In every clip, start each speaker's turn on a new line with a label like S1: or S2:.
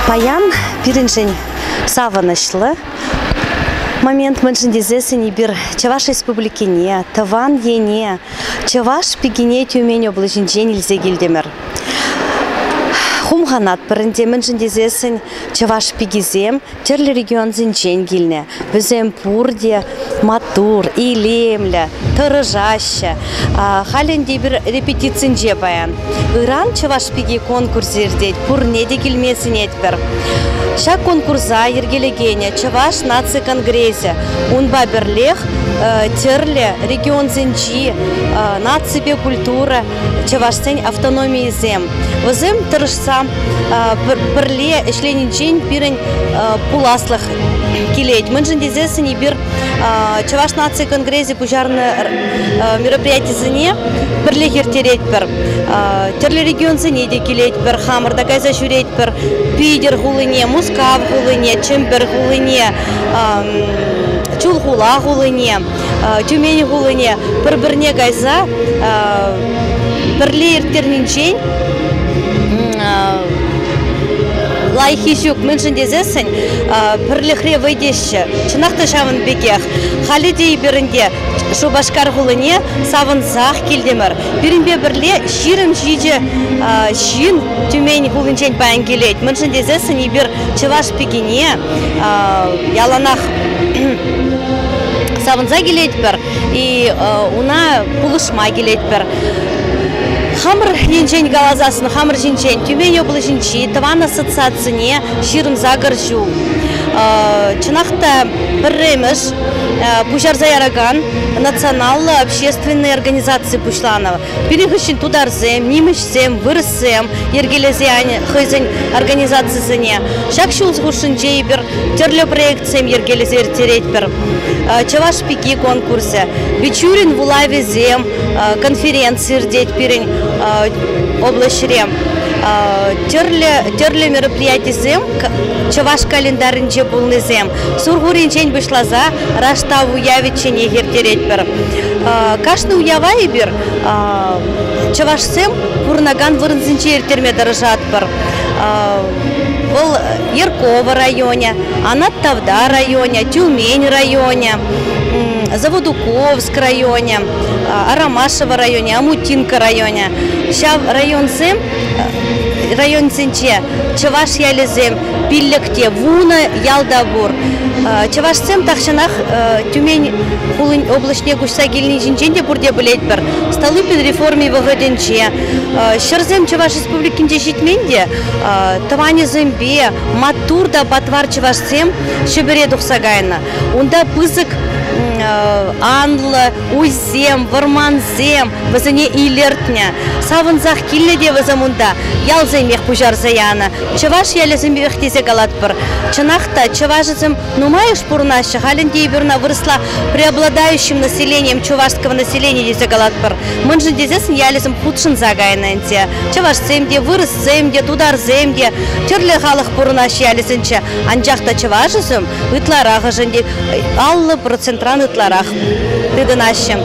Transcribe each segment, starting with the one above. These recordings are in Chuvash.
S1: Паян пирӗншӗн савӑнӑҫлӑ момент мӗншӗн тесессӗн эпир Чӑваш Республикине, тӑван ене, чӑваш пикине Тюмень облаҫӗнчен илсе килтӗмӗр. Хумханатпӑр ӗнтӗ, мӗншӗн тесессӗн чӑваш пикисем тӗрлӗ регионсенчен килнӗ. Вӗсем пурте маттур, илемлӗ, тӑрӑшаҫҫӗ. Халь ӗнтӗ эпир репетицинче паян. Ыран Чӑваш пики конкурсӗ иртет, пурне те килме сӗнетпӗр. Ҫак конкурса йӗркелекенӗ Чӑваш наци конгресӗ. Унпа пӗрлех тӗрлӗ регионсенчи наципе культура чӑвашсен автономийӗсем. Вӗсем тӑрӑшса пӗрле ӗҫленинчен пирӗн пуласлӑх килет. Мӗншӗн тесессӗн эпир Чӑваш наци конгресӗ пуҫарнӑ мероприятисене пӗрлех ирттеретпӗр. Тӗрлӗ регионсене те килетпӗр, хамӑр та кайса ҫӳретпӗр. Питӗр хулине, Мускав хулине, Чӗмпӗр хулине, Чулхула хулине. Тюмени хулине пӗр-пӗрне кайса пӗрле ирттернинчен лайӑххи ҫук мӗншӗн тесессӗн пӗрлӗхре вӑй теҫҫӗ. Чӑнах та ҫавӑн пекех халӗ те эпир ӗнтӗ Шупашкар хулине савӑнсах килтӗмӗр. Пирӗнпе пӗрле ҫирӗм ҫичӗ ҫын Тюмень хулинчен паян килет. Мӗншӗн тесессӗн эпир чӑваш пикине яланах савӑнса килетпӗр и уна пулӑшма килетпӗр хамӑр енчен каласассӑн хамӑр ҫинчен тӳме яблоҫӗнчи тӑван ассоциацине ҫырӑнса кӗр ҫул чӑнах та пӗрремӗш пуҫарса яракан националлӑ общественнӑй организаци пуҫланӑ пирӗн хыҫҫӑн тутарсем нимӗҫсем вырӑс организацисем йӗркелесе хӑйсен организацисене. Ҫак ҫул хушшинче эпир тӗрлӗ проектсем йӗркелесе ирттеретпӗр. Чӑваш пики конкурсӗ, Бичурин вулавӗсем конференци иртет пирӗн облаҫре. Тӗрлӗ, тӗрлӗ мероприятисем чӑваш календарӗнче пулнисем Сурхуринчен пуҫласа Раштав уявӗчченех ирттеретпӗр. Кашни уява эпир чӑвашсем пурӑнакан вырӑнсенче ирттерме тӑрӑшатпӑр. Вӑл Ярково районӗ, Анат Тавда районӗ, Тюмень районӗ, Заводуковск районӗ, Арамашево районӗ, Амутинка районӗ. Ҫав районсем районсенче чӑваш ялӗсем пиллӗкте вунӑ ялта пур. Чӑвашсем тахҫанах Тюмень хулин облаҫне куҫса килни ҫинчен те пурте пӗлетпӗр. Столыпин реформи вӑхӑтӗнче ҫӗрсем Чӑваш Республикинче ҫитмен те, тӑванӗсемпе маттур та патвар чӑвашсем Ҫӗпӗре тухса кайнӑ. Унта пысӑк анлӑ уй ҫынсем, вӑрмансем вӗсене илӗртнӗ. Савӑнсах килнӗ те вӗсем унта. Ялсемех пуҫарса янӑ. Чӑваш ялӗсемех тесе калатпӑр. Чӑнах та, чӑвашӗсем нумайӑш пурӑнаҫҫӗ. Халь ӗнтӗ эпир ӑна вырӑсла преобладающим населением чувашского населения тесе калатпӑр. Мӗншӗн тесессӗн ялӗсем хутшӑнса кайнӑ ӗнтӗ. Чӑвашсем те, вырӑссем те, тутарсем те, тӗрлӗ халӑх пурӑнаҫҫӗ ялӗсенче. Анчах та чӑвашӗсем ытларахӑшӗн те, аллӑ процентран ытларах. тытӑнаҫҫӗ.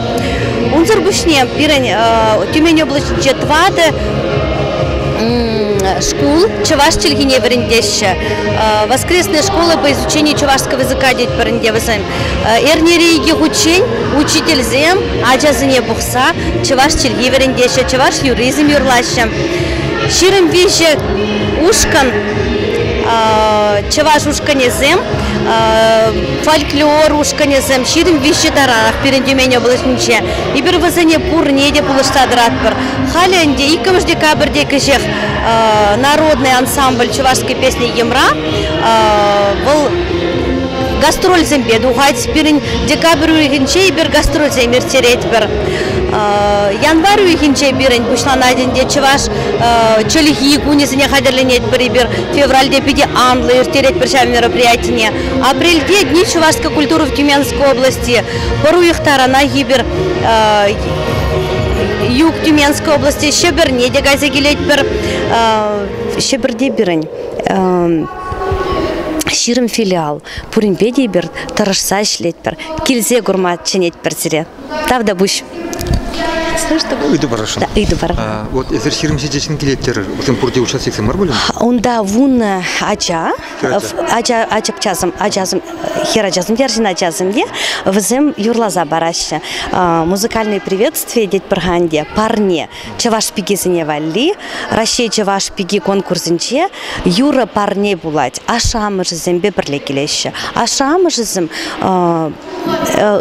S1: Унсӑр пуҫне пирӗн Тюмень облаҫӗнче тӑватӑ шкул чӑваш чӗлхине вӗрентеҫҫӗ. Воскресная школа по изучению чувашского языка тет пӗринте вӗсем. Эрнере икӗ хутчен учительсем ачасене пухса чӑваш чӗлхи вӗрентеҫҫӗ, чӑваш юрризм юрлаҫҫӗ. Ҫирӗм виҫӗ ушкӑн чӑваш ушкӑнӗсем фольклор ушкӑнӗсем ҫирӗм виҫҫӗ таранах пирӗн Тюмень облаҫӗнче. Эпир вӗсене пурне те пулӑшса тӑратпӑр. Халӗ ӗнтӗ иккӗмӗш декабрьте кӗҫех народный ансамбль чувашской песни Йӑмра вӑл гастрольсемпе тухать. Пирӗн декабрь уйӑхӗнче эпир гастрольсем ирттеретпӗр. Январь уйӑхӗнче пирӗн пуҫланать ӗнтӗ чӑваш чӗлхи кунӗсене хатӗрленетпӗр эпир. Февральте питӗ анлӑ ирттеретпӗр ҫав мероприятине. Апрельте Дни Чувашской культуры в Тюменской области. Пӑру юхтарана хибер юг Тюменской области Шӗпӗрне те кайса килетпӗр. Шӗпӗрте пирӗн ҫирӗм филиал. Пуринпе те эпир тӑрӑшса ӗҫлетпӗр, килсе курма чӗнетпӗр сире. Тавтапуҫ. Ыйту парасшӑн. Да,
S2: ыйту пар. А, вот
S1: эсир ҫирӗм
S2: ҫичӗҫӗн килеттӗр. Усем пурте участниксем мар пулин? Унта вуннӑ
S1: ача, ача, ачапчасем, ачасем, хӗр ачасем, арҫын ачасем те вӗсем юрласа параҫҫӗ. Музыкальные приветствия тетпӗр ханде парне чӑваш пикисене валли Раҫҫей чӑваш пики конкурсӗнче юрӑ парне пулать. Ашшӗ-амӑшӗсемпе пӗрле килеҫҫӗ. Ашшӗ-амӑшӗсем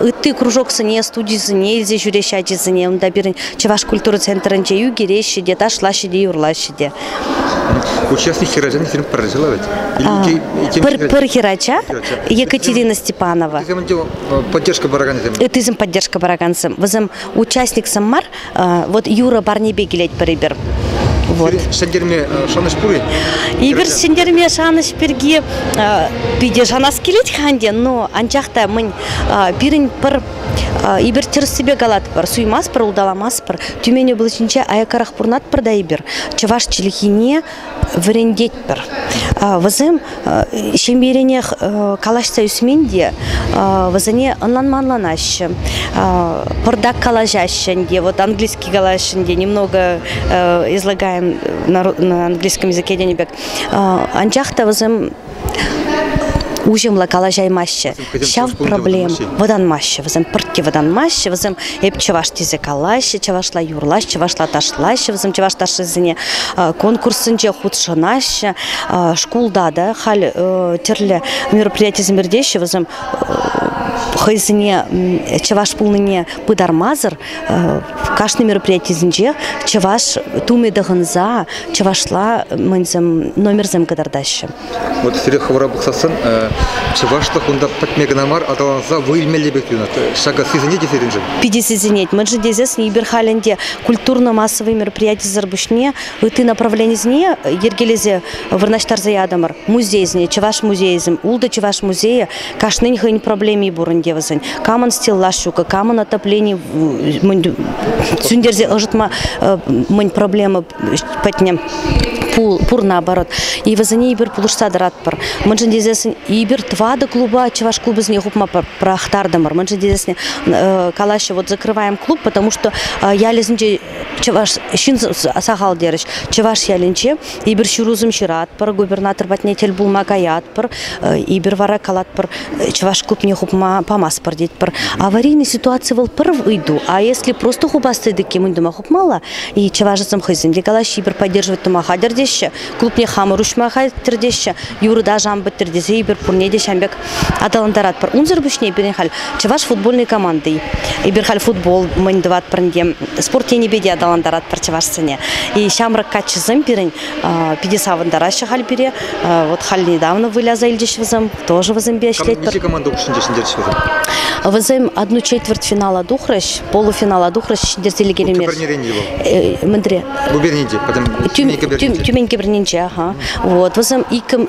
S1: ытти кружоксене, студисене илсе ҫӳреҫҫӗ ачисене. Унта пирӗн Чӑваш культура центрӗнче ӳкереҫҫӗ те, ташлаҫҫӗ те, юрлаҫҫӗ те. Участник
S2: хӗрачан фильм пӗрлешӗ ларать. Пӗр, пӗр хӗрача
S1: Екатерина Степанова. Ытисем поддержка
S2: паракансем. Ытисем поддержка
S1: паракансем. Вӗсем участниксем мар, Вот юрӑ парнепе килетпӗр эпир. Вот. Ҫӗнтерме
S2: шанӑҫ пур-и? Эпир
S1: ҫӗнтерме шанӑҫ пирки питӗ шанас килет-ха ӗнтӗ, но анчах та мӗн пирӗн пӗр эпир тӗрӗссипе калатпӑр, суймастпӑр, улталамастпӑр. Тюмень облаҫӗнче аяккарах пурӑнатпӑр та эпир. Чӑваш чӗлхине вӗрентетпӗр. Вӗсем ҫемьеренех калаҫса ӳсмен те вӗсене ӑнланманланаҫҫӗ, пӑртак калаҫаҫҫӗ ӗнтӗ, вот английский калаҫҫӗ ӗнтӗ, немного излагаем на английском языке тенӗ пек. Анчах та вӗсем уҫӑмлӑ калаҫаймаҫҫӗ. Ҫав проблем вӑтанмаҫҫӗ вӗсем. Пурте вӑтанмаҫҫӗ вӗсем. Эп чӑваш тесе калаҫҫӗ, чӑвашла юрлаҫҫӗ, чӑвашла ташлаҫҫӗ вӗсем чӑваш ташшисене. Конкурссенче хутшӑнаҫҫӗ. Шкулта та халь тӗрлӗ мероприятисем иртеҫҫӗ вӗсем хӑйсене чӑваш пулнине пытармасӑр Кашни мероприятисенче чӑваш тумӗ тӑхӑнса чӑвашла номерсем кӑтартаҫҫӗ. Вот сире
S2: хӑвӑра пӑхсассӑн чӑвашлӑх унта пӗтме кӑна мар, аталанса вӑй илмелле пек туйӑнать. Ҫакӑ сисӗнет и сирӗншӗн? Питӗ сисӗнет. Мӗншӗн тесессӗн
S1: эпир халь ӗнтӗ культурно-массовый мероприятисӗр пуҫне ытти направленисене йӗркелесе вырнаҫтарса ятӑмӑр. Музейсене, чӑваш музейӗсем, ултӑ чӑваш музейӗ Кашнин хӑйӗн проблеми пур ӗнтӗ вӗсен. Камӑн стеллаж ҫук, камӑн отоплени сӳнтерсе ӑшӑтма мӗн проблема пӗтнӗ пур наоборот. И вӗсене эпир пулӑшса тӑратпӑр. Мӗншӗн тесессӗн эпир тӑватӑ клуба чӑваш клубӗсене хупма пӑрахтартӑмӑр. Мӗншӗн тесессӗн калаҫҫӗ, вот закрываем клуб, потому что ялӗсенче чӑваш ҫын сахал терӗҫ. Чӑваш ялӗнче Эпир ҫырусем ҫыратпӑр, губернатор патне тӗл пулма каятпӑр, эпир вара калатпӑр, чӑваш клубне хупма памастпӑр тетпӗр. Аварийный ситуаци вӑл пӗр ыйту, а если просто хупас тетӗккем уйдӑма хупмалла, и чӑвашсем хӑйсем те калаҫҫӗ, эпир поддерживать тума хатӗр теҫҫӗ, клубне хамӑр уҫма хатӗр теҫҫӗ, юрӑ та ӑшан пӗттӗр тесе эпир пурне те ҫам пек аталантаратпӑр. Унсӑр пуҫне пирӗн халь чӑваш футбольной команди. Эпир халь футбол мӑйн тӑватпӑр ӗнтӗ. Спорт енӗпе те аталантаратпӑр чӑвашсене. И ҫамрӑк каччӑсем пирӗн питӗ савӑнтараҫҫӗ халь пире. Вот халь недавно выляса илчӗҫ вӗсем. Тоже вӗсемпе ӗҫлетпӗр. Мӗнле команда хушшинче ҫӗнтерчӗҫ
S2: вӗсем? Вӗсем
S1: одну четверть финала тухрӗҫ, полуфинала тухрӗҫ, ҫӗнтерсе лекеймерӗҫ. Тӳм кӗпернеренче вӑл? Мӗнре? Губернинче,
S2: пӗтӗм Тюмень
S1: кӗпернинче. Тюмень кӗпернинче, аха. Вот, вӗсем иккӗм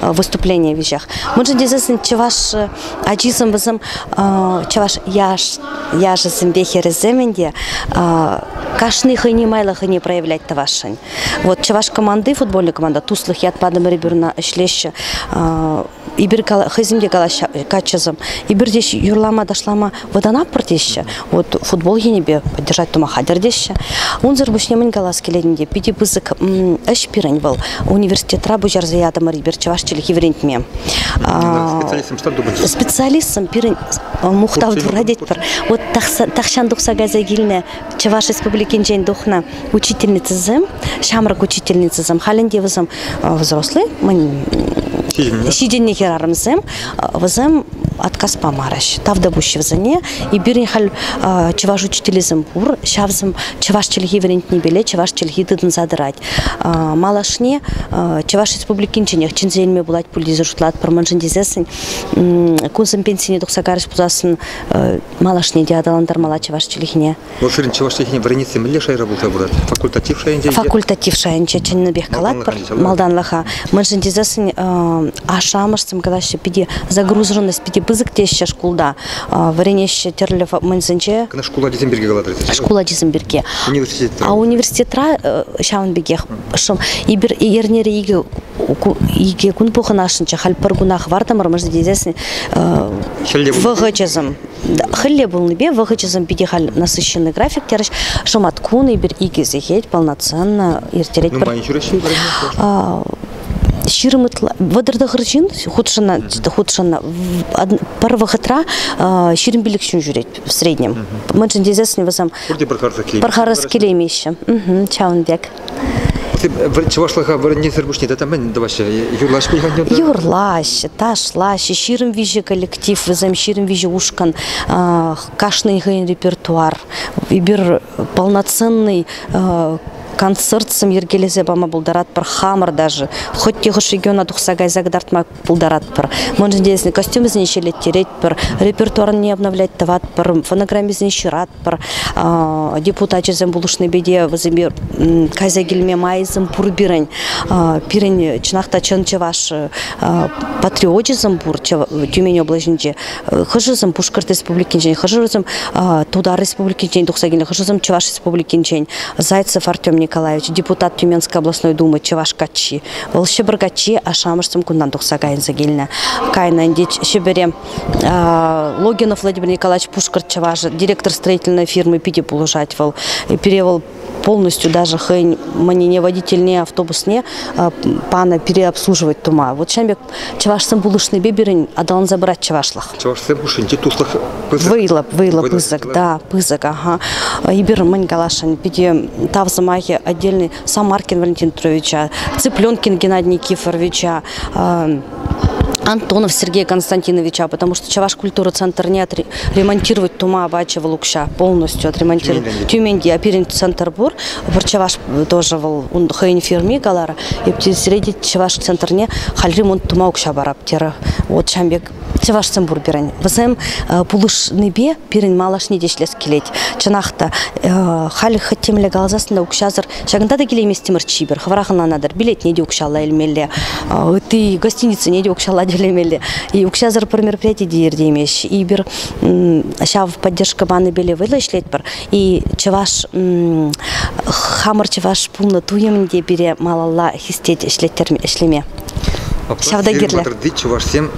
S1: выступление веҫех. Мӑншӑн тесессӗн чӑваш ачисем вӗсем чӑваш яш яшӗсемпе хӗрӗсемӗн те кашни хӑйне майлӑ хӑйне проявлять тӑвасшӑн. Вот чӑваш команды футбольная команда Туслых ят Падамыр Иберна ӗҫлеҫҫӗ. Ибер хӑйсем те калаҫҫӗ каччӑсем. Ибер теҫ юрлама ташлама Вӑтанатпӑр теҫҫӗ. Вот футбол енӗпе поддержать тума хатӗр теҫҫӗ. Унсӑр пуҫне мӗн калас килет ӗнтӗ, питӗ пысӑк ӗҫ пирӗн вӑл. Университетра пуҫарса ятӑмӑр эпир чӑваш чӗлхи вӗрентме.
S2: Специалистсем пирӗн
S1: мухтав турра тетпӗр. Вот тахҫан тухса кайса килнӗ Чӑваш Республикинчен тухнӑ учительницӑсем, ҫамрӑк учительницӑсем, халь ӗнтӗ вӗсем взрослый, ҫитӗннӗ хӗрарӑмсем, вӗсем отказ памарӗҫ. Тавтапуҫ вӗсене. И пирӗн халь чӑваш учителӗсем пур, ҫавсем чӑваш чӗлхи вӗрентнипеле чӑваш чӗлхи тытӑнса тӑрать. Малашне Чӑваш Республикинченех чӗнсе илме пулать пуль тесе шутлатпӑр, мӗншӗн тесессӗн кунсем пенсине тухса карӑҫ пулсассӑн малашне те аталантармалла чӑваш чӗлхине. Вӑл ширин чӑваш чӗлхине
S2: вӗренесси мӗнле шайра пулса пырать? Факультатив шайӗнче?
S1: Факультатив шайӗнче чӑннипех калатпӑр малтанлӑха.
S2: Мӗншӗн
S1: тесессӗн ашшӗ-амӑшсем калаҫҫӗ питӗ загруженность питӗ пысӑк теҫҫӗ шкулта. Вӗренеҫҫӗ тӗрлӗ мӑнсенче. Кӑна шкул ачисем пирки
S2: калатӑр тесе? Шкул ачисем пирки.
S1: Университетра? А
S2: университетра
S1: ҫавӑн пекех шӑм. Эрнере икӗ икӗ кун пухӑнасшӑнччӗ, халь пӗр куна хӑвартӑмӑрмӑр тесен вӑхӑчӗсем хӗлле пулнипе вӑхӑчӗсем питӗ халь насыщенный график терӗҫ. Шӑмат кун эпир икӗ сехет полноценно ирттеретпӗр. Нумай ҫӳреҫҫӗ
S2: ҫирӗм
S1: ытла вӑтӑр тӑхӑр ҫын хутшӑннӑ хутшӑннӑ пӗр вӑхӑтра ҫирӗм пилӗк ҫын ҫӳрет в среднем. Мӗншӗн тесессӗн вӗсем пӗр харӑс килеймеҫҫӗ. Ҫавӑн пек.
S2: чӑвашлӑха вӗрентнисӗр пуҫне тата мӗн тӑваҫҫӗ? Юрлаҫҫӗ пуль Юрлаҫҫӗ,
S1: ташлаҫҫӗ. Ҫирӗм виҫӗ коллектив вӗсем, ҫирӗм виҫӗ ушкӑн. Кашнин хӑйӗн репертуар. Эпир полноценный концерт сӗм йӗркелесе пама пултаратпӑр хамӑр даже. Хӑть те хӑш региона тухса кайса кӑтартма пултаратпӑр. Мӑншӑн тесен костюмсене ҫӗлеттеретпӗр, репертуарне обновлять тӑватпӑр, фонограммисене ҫыратпӑр. Депутачӗсем пулӑшнипе те вӗсемпе кайса килме майсем пур пирӗн. Пирӗн чӑнах та чӑн чӑваш патриочӗсем пур Тюмень облаҫӗнче. Хӑшӗсем Пушкӑрт Республикинчен, хӑшӗсем Тутар Республикинчен тухса килнӗ, хӑшӗсем Чӑваш Республикинчен. Зайцев Артем Николаевич, депутат Тюменской областной думы, чӑваш каччи. Вӑл ҫӑпӑр каччи ашшӗ-амӑшсем кунтан тухса кайӑнса килнӗ. Кайнӑ ӗнтӗ Ҫӗпӗре. Логинов Владимир Николаевич Пушкӑрт чӑваш директор строительной фирмы питӗ пулӑшать вӑл. Пире вӑл полностью даже хӑйӗн мӑнине, водительне, автобусне панӑ пире обслуживать тума. Вот ҫавӑн пек чӑвашсем пулӑшнипе пирӗн аталанса пырать чӑвашлӑх. Чӑвашсем хушшинче
S2: туслӑх пысӑк. Вӑйлӑ,
S1: вӑйлӑ, пысӑк, да, пысӑк. Ага. Эпир мӗн каласшӑн, питӗ тав сӑмахӗ отдельный Самаркин Валентин Петровича, Цыпленкин Геннадий Никифоровича, Антонов Сергей Константиновича, потому что Чаваш культура центр не отре- ремонтировать тума обачивал укща полностью отремонтировать Тюменьде, а перен центр бур пыр Чаваш тоже вал он хойинфирми калар, и средний Чаваш центрне хал ремонт тума укща бараптера. Вот чамбек чӑвашсем пур пирӗн. Вӗсем пулӑшнипе пирӗн малашне те ӗҫлес килет. Чӑнах та, халь хӑть темле каласассӑн та укҫасӑр ҫакӑнта та килейместӗмӗр чипер. Хӑвӑрах ӑнланатӑр, билетне те укҫалла илмелле, ытти гостиницӑне те укҫалла тӳлемелле. И укҫасӑр пӗр мероприяти те иртеймест. И пир ҫав поддержка панипеле вӑйлӑ ӗҫлетпӗр. И чӑваш хамӑр чӑваш пулнӑ туйӑмӗн те пире малалла хистет ӗҫлеттерме, ӗҫлеме. Ҫавна
S2: кирлӗ. Патӑрти чӑвашсем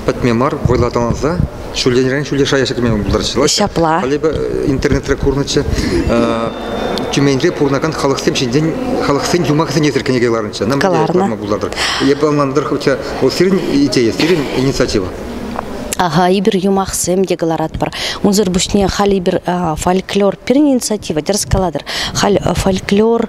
S2: пӗтме мар вӑйла аталанса ҫулленрен ҫӳле шая ҫӗкме пултараҫҫӗ. Ҫапла. Халӗпе
S1: интернетре
S2: курнӑччӗ. Тюменьре пурӑнакан халӑхсем ҫинчен халӑхсен юмахӗсене эсир кӗнеке кӑларнӑччӗ. Нам кӑларнӑ. пултатӑр. Эпӗ ӑнлантӑр, хотя вӑл сирӗн идея, сирӗн инициатива. Ага,
S1: эпир юмахсем те кӑларатпӑр. Унсӑр пуҫне халь эпир фольклор пирӗн инициатива, тӗрӗс калатӑр. Халь фольклор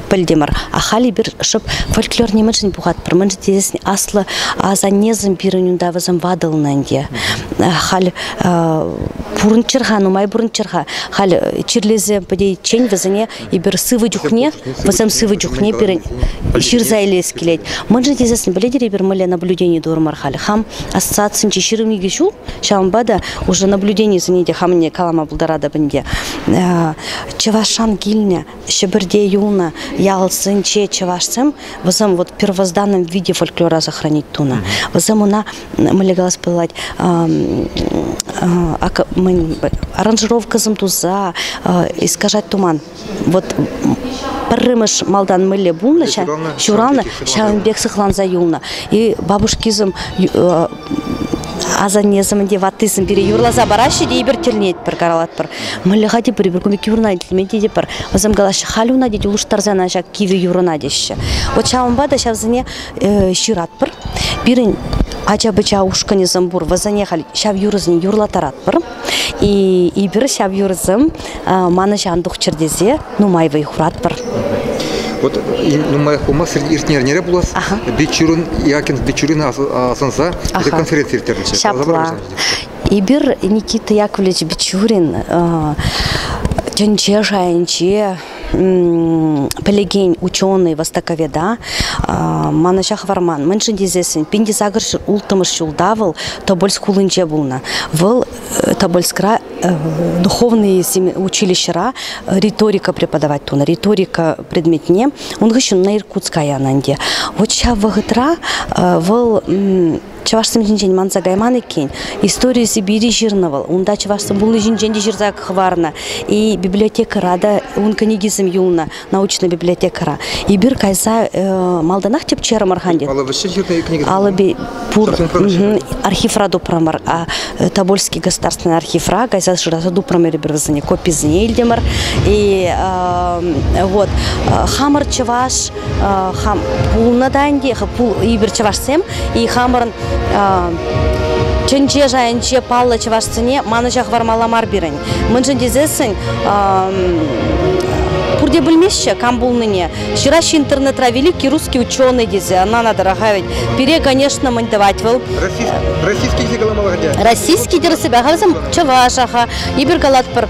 S1: пӗлтӗмӗр. Ахаль эпир шӑп фольклор нимӗншӗн пухатпӑр. Мӗншӗн тесен аслӑ асаннесем пирӗн унта вӗсем ватӑлнӑ ӗнтӗ. Халь пурӑнччӑр-ха, нумай пурӑнччӑр-ха. Халь чирлесе пӗтейиччен вӗсене эпир сывӑ чухне, вӗсем сывӑ чухне пирӗн ҫырса илес килет. Мӗншӗн тесен пӗлетӗр эпир мӗнле наблюдени турӑмӑр халь. Хам ассоциацинче ҫирӗм икӗ ҫул, ҫавӑнпа та уже наблюденисене те хамне калама пултаратӑп ӗнтӗ. Чӑвашран килнӗ Ҫӗпӗрте юлнӑ ялсенче чӑвашсем вӗсем вот первозданном виде фольклора сохранить тунӑ. Вӗсем ӑна мӗнле калас пулать аранжировкӑсем туса искажать туман. Вот пӗрремӗш малтан мӗнле пулнӑ ҫуралнӑ ҫавӑн пек сыхланса юлнӑ. И бабушкисем Асаннесӗмӗн те ваттисем пире юрласа параҫҫӗ те эпир тӗлӗнетпӗр, каралатпӑр. Мӑллӑха тепӗр пӗр кун пекки вырӑна илтмен тетӗпӗр. Вӗсем калаҫҫӗ, халь уна тет, улӑштарсана ҫак кивӗ юрӑна теҫҫӗ. Вот ҫавӑнпа та ҫавсене э, ҫыратпӑр. Пирӗн ача-пӑча ушкӑнӗсем пур, вӗсене халь ҫав юрӑсене юрлаттаратпӑр. И эпир ҫав юрӑсем манӑҫан тухчӑр тесе нумай вӑй хуратпӑр. Вот
S2: нумаях пулмасть иртнӗ эрнере пулас Бичурин Якинс Бичурин асӑнса конференци ирттернӗччӗ. Ҫапла.
S1: Эпир Никита Яковлевич Бичурин тӗнче шайӗнче пӗлекен ученый, востоковеда манӑҫа хӑварман. Мӗншӗн тесессӗн Пинтисакӑр улттӑмӗш ҫулта вӑл Тобольск хулинче пулнӑ. Вӑл Тобольскра духовные училищӑра риторика преподавать тунӑ. Риторика предметне. Ун хыҫҫӑн на Иркутска янӑ ӗнтӗ. Вот ҫав вӑхӑтра вӑл чӑвашсем ҫинчен манса кайман иккен. Истори Сибири ҫырнӑ вӑл. Унта чӑвашсем пулни ҫинчен те ҫырса хӑварнӑ. И библиотекӑра та ун кӗнекисем юлнӑ, научная библиотекӑра. Эпир кайса э, малтанах тӗпчерӗмӗр хан тет. Алла вӗҫсе ҫырнӑ кӗнекесем? Алӑби пур. Архивра тупрӑмӑр. А, э, Тобольский государственный архивра кайса шыраса тупрӑмӑр эпир вӗсене. Кописене илтӗмӗр. И э, вот э, хамӑр чӑваш хам пулнӑ та ӗнтӗ эпир чӑвашсем и хамӑрӑн тӗнче шайӗнче паллӑ чӑвашсене манӑҫа хӑвармалла мар пирӗн мӗншӗн тесессӗн пурте пӗлмеҫҫӗ кам пулнине ҫыраҫҫӗ интернетра великий русский ученый тесе ӑна надо тӑраха ведь пире конечно мӗн тӑвать вӑл российский
S2: те каламалла хотя российский терӗсепе
S1: халсем чӑваша ха эпир калатпӑр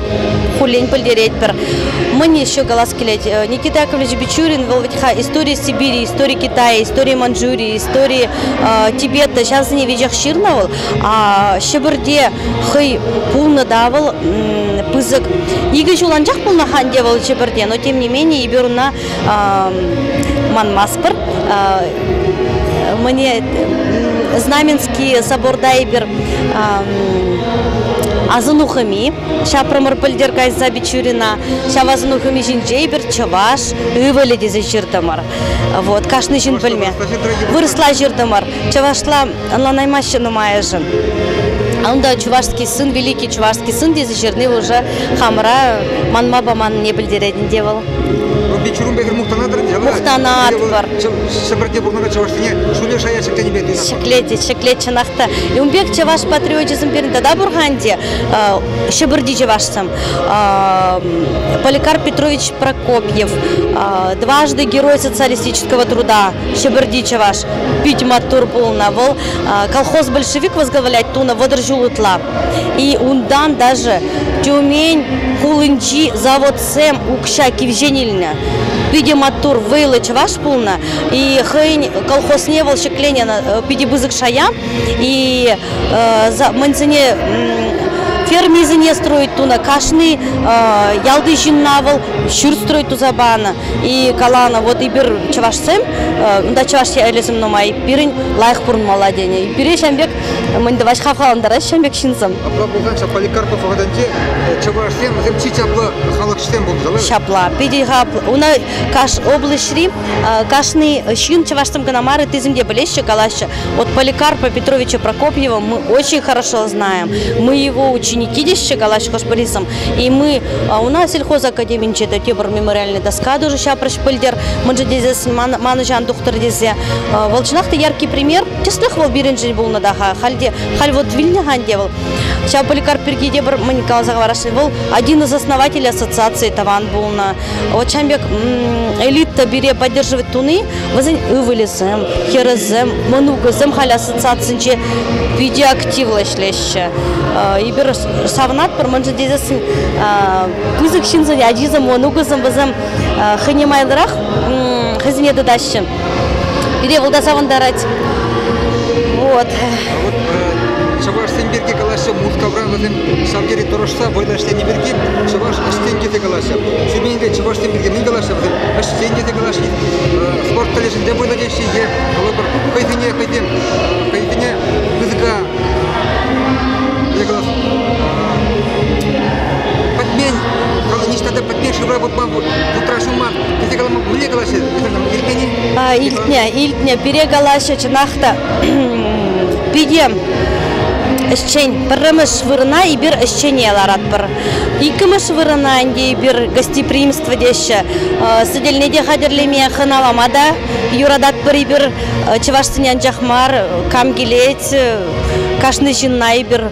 S1: хуллен пӗлтеретпӗр. Мӑни еще калас килет. Э, Никита Яковлевич Бичурин, вӑл ведь история Сибири, история Китая, история Манчжурии, история э, Тибета. Ҫавсене веҫех ҫырнӑ вӑл. А Ҫӗпӗрте хӑй пулнӑ та вӑл пысӑк. Икӗ ҫул анчах пулнӑ ханте вӑл Ҫӗпӗрте, но тем не менее эпир ӑна манмастпӑр мне Знаменский соборда эпир асӑнухӑми ҫапрӑмӑр пӗлтер кайса Бичурина ҫав асӑнухӑми ҫинче эпир чӑваш ывӑлӗ тесе ҫыртӑмӑр вот кашни ҫын пӗлме вырӑсла ҫыртӑмӑр чӑвашла ӑнланаймаҫҫӗ нумайӑшӗ. Унта чувашский сын, великий чувашский сын тесе ҫырни уже хамӑра манма паманнине пӗлтерет ӗнтӗ вӑл. Рубли чурун пекер
S2: мухтанатӑр ӗнтӗ, ӑна? Мухтанатпӑр.
S1: Ҫӗпӗрте пурӑнакан
S2: чӑвашсене ҫуле шая ҫӗкленипе туйнӑ. Ҫӗклет, ҫӗклет чӑнах
S1: та. Ун пек чӑваш патриочӗсем пирӗн тата пур-ха ӗнтӗ. Ҫӗпӗрти чӑвашсем. Поликарп Петрович Прокопьев, дважды герой социалистического труда, Ҫӗпӗрти чӑваш. питӗ маттур пулнӑ. Вӑл колхоз большевик возглавлять тунӑ вӑтӑр ҫул ытла. И унтан даже Тюмень хулинчи заводсем укҫа кивҫен илнӗ. Питӗ маттур вӑйлӑ чӑваш пулнӑ. И хӑйӗн колхозне вӑл ҫӗкленӗ питӗ пысӑк шая. И мӗнсене фермисене строить тунӑ. Кашни ялти ҫынна вӑл ҫурт строить туса панӑ. И каланӑ, вот эпир чӑвашсем, унта чӑваш ӗлӗсем нумай, пирӗн лайӑх пурӑнмалла тенӗ. Пире ҫам пек, мӗн тӑваҫ хавхалантарать ҫам пек ҫынсем. Апла пулганча
S2: поликарпа пӑхаканче чӑвашсем вӗсем чи чаплӑ
S1: халӑхсем пулнӑ Ҫапла, питӗ Una каш облаҫри кашни ҫын чӑвашсем кӑна мар, ыттисем те пӗлеҫҫӗ, калаҫҫӗ. Вот Поликарпа Петровича Прокопьева мы очень хорошо знаем. Мы его ученики теҫҫӗ, калаҫҫӗ хӑш-пӗрисем. И мы, у нас сельхозакадеминче те тепӗр мемориальная доска дуже ҫапрӗҫ пӗлтер, мӑншӑ тесе манӑҫан тухтӑр тесе. Вӑл чӑнах та яркий пример. Тӗслӗх вӑл пирӗншӗн пулнӑ та-ха. Хальте, халь вот вилнӗ ханте вӑл. Ҫав поликарп пирки те пӗр мӗн каласа хӑварасшӑн. Вӑл один из основателей ассоциации тӑван пулнӑ. Вот ҫам пек элита пире поддерживать туни, вӗсен ывӑлӗсем, хӗрӗсем, мӑнукӗсем халь ассоциацинче питӗ активлӑ ӗҫлеҫҫӗ. И пир савӑнатпӑр мӑншӑн тесессӗн пысӑк ҫынсен ачисем мӑнукӗсем вӗсем хӑйне майлӑрах хӑйсене тытаҫҫӗ. Пире вӑл та савӑнтарать. Вот. А вот
S2: чӑвашсем пирки калаҫса Мускавра вӗсем ҫав тери тӑрӑшса вӑйлӑ ӗҫлени пирки чӑваш ӗҫчен тесе калаҫҫӗ. Ҫӳренипе чӑвашсем пирки мӗн калаҫҫӗ вӗсем? Ӗҫчен тесе калаҫҫӗ. Спорт колледжӗнче вӑйлӑ теҫҫӗ е калӑпӑр хӑйсене хӑйсен хӑйсене пысӑка пӗтмен ниҫта та пӗтмен шывра выртма вутра ҫуман тесе мӗнле калаҫҫӗ иртнӗ илтнӗ
S1: илтнӗ пире калаҫҫӗ чӑнах та пике ӗҫчен пӗрремӗш вырӑна эпир ӗҫчене ларатпӑр иккӗмӗш вырӑна ӗнтӗ эпир гостеприимство теҫҫӗ сӗтелне те хатӗрлеме хӑналама та юрататпӑр эпир Чӑвашсене анчах мар, кам килет, кашни ҫынна эпир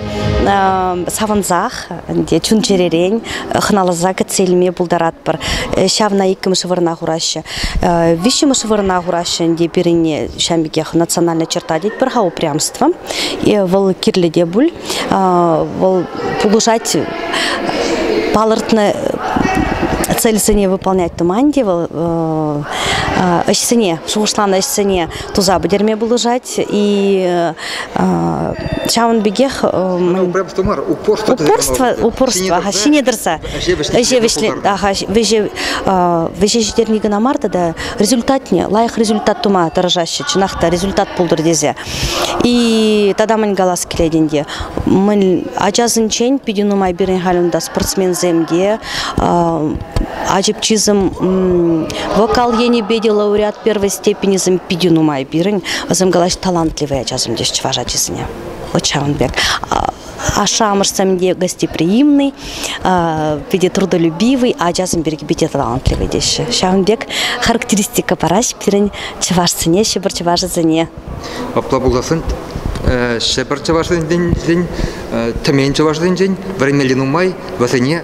S1: савӑнсах, ӗнтӗ чун-чӗререн хӑналаса кӗтсе илме пултаратпӑр. Ҫавна иккӗмӗш вырӑна хураҫҫӗ. Виҫҫӗмӗш вырӑна хураҫҫӗ ӗнтӗ пирӗнне ҫам пекех национальная черта тетпӗр-ха упрямство. Вӑл кирлӗ те пуль. вӑл пулӑшать палӑртнӑ цельсене выполнять туман те вӑл ӗҫсене шухӑшланӑ ӗҫсене туса пӗтерме пулӑшать и ҫавӑн пекех упорство мар упорство упорство ҫине тӑрса ӗҫе ҫитерни кӑна мар тата результатне лайӑх результат тума тӑрӑшаҫҫӗ чӑнах та результат пултӑр тесе И тата мӗн калас килет ӗнтӗ, мӗн ачасенчен питӗ нумай пирӗн халь унта спортсменсем те, ачӑпчисем вокал енӗпе те лауреат первой степенӗсем питӗ нумай пирӗн. Вӗсем калаҫ талантливые ачасем теҫ чӑваш ачисене. Вот ҫавӑн пек. Ашшӗ-амӑшсем те гостеприимный, питӗ трудолюбивый, ачасем пирки питӗ талантливый теҫҫӗ. Ҫавӑн пек характеристика параҫ пирӗн чӑвашсене, ҫӗпӗр чӑвашӗсене. Апла
S2: пулсассӑн Ҫӗпӗр чӑвашсенчен, Тӗмен чӑвашсенчен вӗренмелли нумай, вӗсене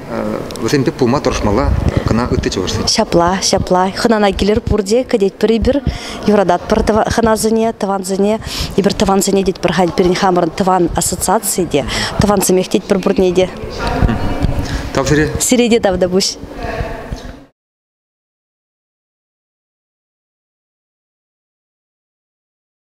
S2: вӗсем пек пулма тӑрӑшмалла кӑна ытти чӑвашсен. Ҫапла, ҫапла.
S1: Хӑнана килер пурте, кӗтетпӗр эпир. юрататпӑр хӑнасене, тӑвансене, эпир тӑвансене тетпӗр халь пирӗн хамӑрӑн тӑван ассоциаци те, тӑвансемех тетпӗр пурне те. Тав сире. Сире те тавтапуҫ.